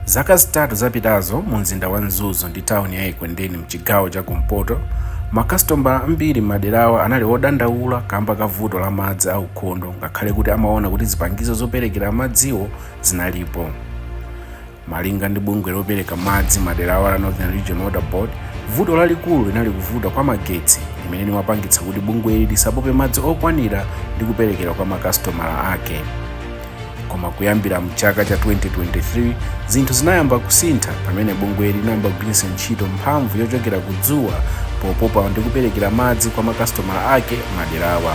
zaka zitatu zapitazo mu mzinda wa mzuzu ndi tawuni ya ekwendeni mchigawo cha kumpoto makasitomala ambiri m'maderawa anali odandaula kamba ka vuto la madzi aukhondo ngakhale kuti amaona kuti zipangizo zoperekera madziwo zinalipo Malinga ndi bungwe lopereka madzi maderawa la Northern Region Water Board, vuto lalikulu linali kuvuta kwa magetsi limene limapangitsa kuti bungweli lisapope madzi okwanira ndi kuperekera kwa makasitomala ake. Koma kuyambira mchaka cha 2023, zinthu zinayamba kusintha pamene bungweli linayamba kugwiritsa ntchito mphamvu yochokera ku dzuwa popopa ndi kuperekera madzi kwa makasitomala ake maderawa.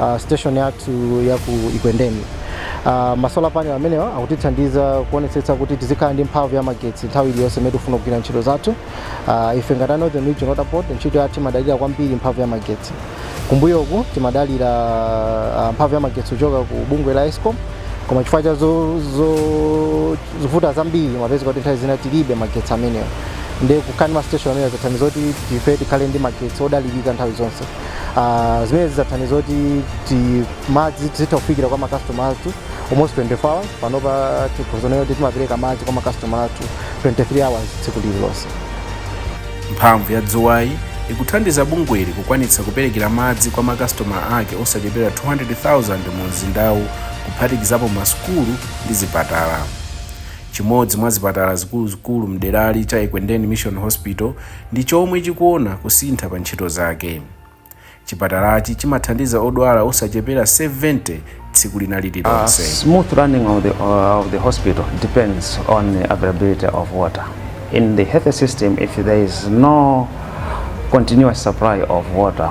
uh, station yathu ya ku Ekwendeni. Uh, masolar panel amenewa akutithandiza kuonetsetsa kuti tizikhala ndi mphamvu ya magetsi nthawi iliyonse imene tikufuna kugwira ntchito zathu. Uh, ife ngati a Northern Region Water Board ntchito yathu imadalira kwambiri mphamvu ya magetsi. Kumbuyoku timadalira uh, mphamvu ya magetsi kuchoka ku bungwe la Escom koma chifukwa cha zo- zo- zovuta zambiri mumapezeka kuti nthawi zina tilibe magetsi amenewa ndiye kukhala ndi mastation amenewa zathandiza kuti ife tikhale ndi magetsi odalirika nthawi zonse Ah, zimene zathandiza kuti ti- madzi tizitha kufikira kwa makastoma athu almost 24 hours panopa tikhoza kunena kuti timapereka madzi kwa makastoma athu 23 hours tsiku lililonse mphamvu ya dzuwayi ikuthandiza bungweli kukwanitsa kuperekera madzi kwa makasitomala ake osachepera 200,000 mu mzindawu kuphatikizapo masukulu ndi zipatala chimodzi mwa zipatala zikuluzikulu mderali cha ekwendeni mission hospital ndi chomwe chikuona kusintha pa ntchito zake. Chipatalachi chimathandiza odwala osachepera 70 tsiku lina lililonse. Smooth running of the, uh, of the hospital depends on the availability of water. In the health system, if there is no continuous supply of water,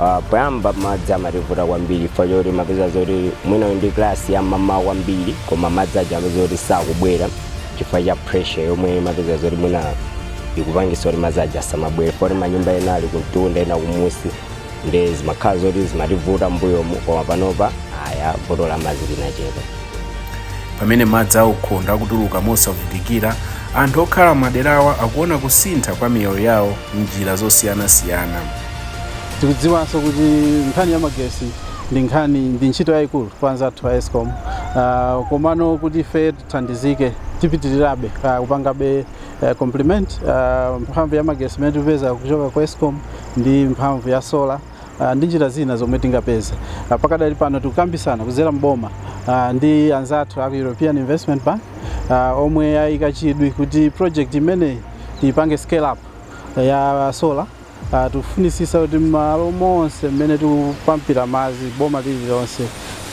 Ah, poyamba madzi amativuta kwambiri chifukwa choti umapeza zoti mwina ndi kalasi ya m'mawa kwambiri koma madzi aja amapeza kuti sakubwera chifukwa cha pressure yomwe umapeza zoti mwina ikupangisa kuti madzi aja asamabwere poti manyumba ena ali kumtunda ena kumusi ndiye zimakhala zoti zimativuta mbuyomu koma panopa aya vuto la madzi linachepa pamene madzi aukhondo akutuluka mosavutikira anthu okhala maderawa akuona kusintha kwa miyoyo yawo m'njira zosiyanasiyana tikudziwanso kuti nkhani ya magesi ndi nkhani ndi ntchito yayikulu kwa anzathu a escom uh, komano kuti ife tithandizike tipitirirabe uh, kupangabe uh, complement uh, mphamvu ya magesi imene tikupeza kuchoka ku escom ndi mphamvu ya sola uh, ndi njira zina zomwe tingapeze uh, pakadali pano tikukambisana kudzera mboma uh, ndi anzathu aku european investment bank uh, omwe ayika chidwi kuti project imeneyi tiyipange scale up ya solar Uh, tikufunisisa kuti malo monse mmene tikupampira madzi boma lililonse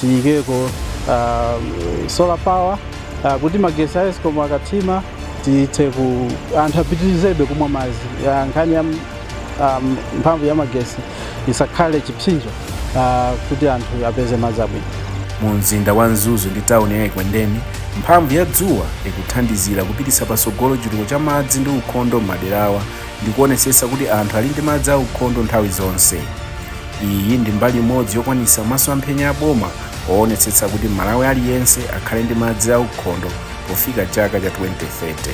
tiyikeko uh, solar power uh, kuti magesi a escom akathima tithe ku anthu apitirizebe kumwa madzi uh, nkhani ya um, mphamvu ya magesi isakhale chipsinjo uh, kuti anthu apeze madzi abwino mu mzinda wa mzuzu ndi tawuni ya ekwendeni mphamvu ya dzuwa ikuthandizira kupititsa patsogolo chitukuko cha madzi ndi ukhondo m'maderawa ndi kuonetsetsa kuti anthu ali ndi madzi aukhondo nthawi zonse iyi ndi mbali imodzi yokwanitsa masomphenya a boma oonetsetsa kuti mmalawi aliyense akhale ndi madzi aukhondo pofika chaka cha 2030